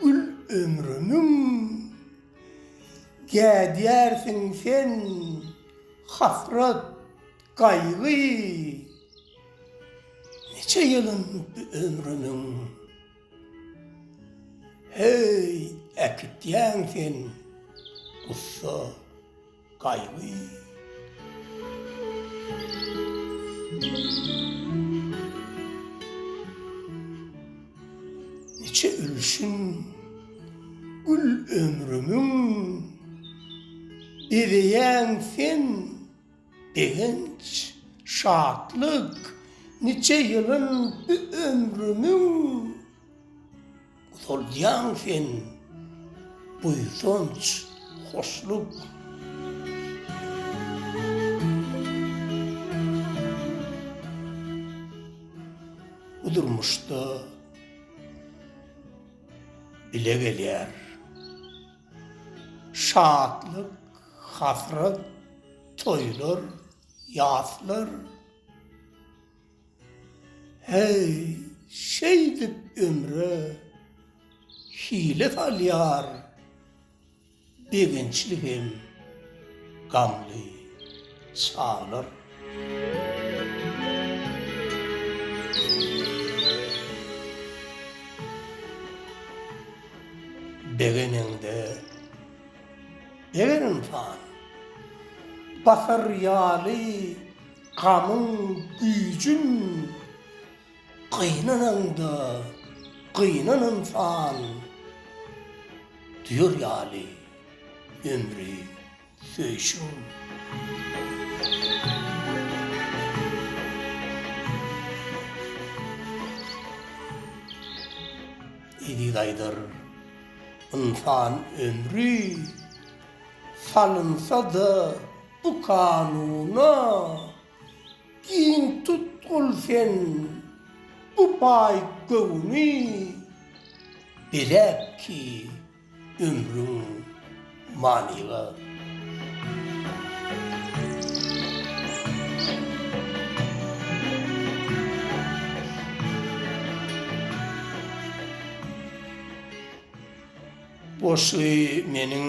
Gül ömrümiň, gädýärsiň sen hasrat, gaýgy, Niçe ýylyn bu ömrümiň, heý, äkitýäň sen gussa. Niçe ülşin gül ömrümiň Bezeýäň sen begenç, şatlyk Niçe ýylyn bu ömrümiň. Utalýaň sen buýsanç, hoşluk. Bu durmuşda bile gelýär. Şatlyk, hasrat, toýlar, ýaslar. Heý, şeýdip ömre hile salýar begençli hem gamly çaglar. Begeneňde, begenimhan, bahar ýaly Gamyň güýjün gynananda gynan ynsan diýer ýaly ömri söýşüň. Eziz aýdyr, Ynsan ömri salynsa-da Bu kanuna giň tutgul sen, bu baý göwni beläp ki ömrüň manyga. Boşy meniň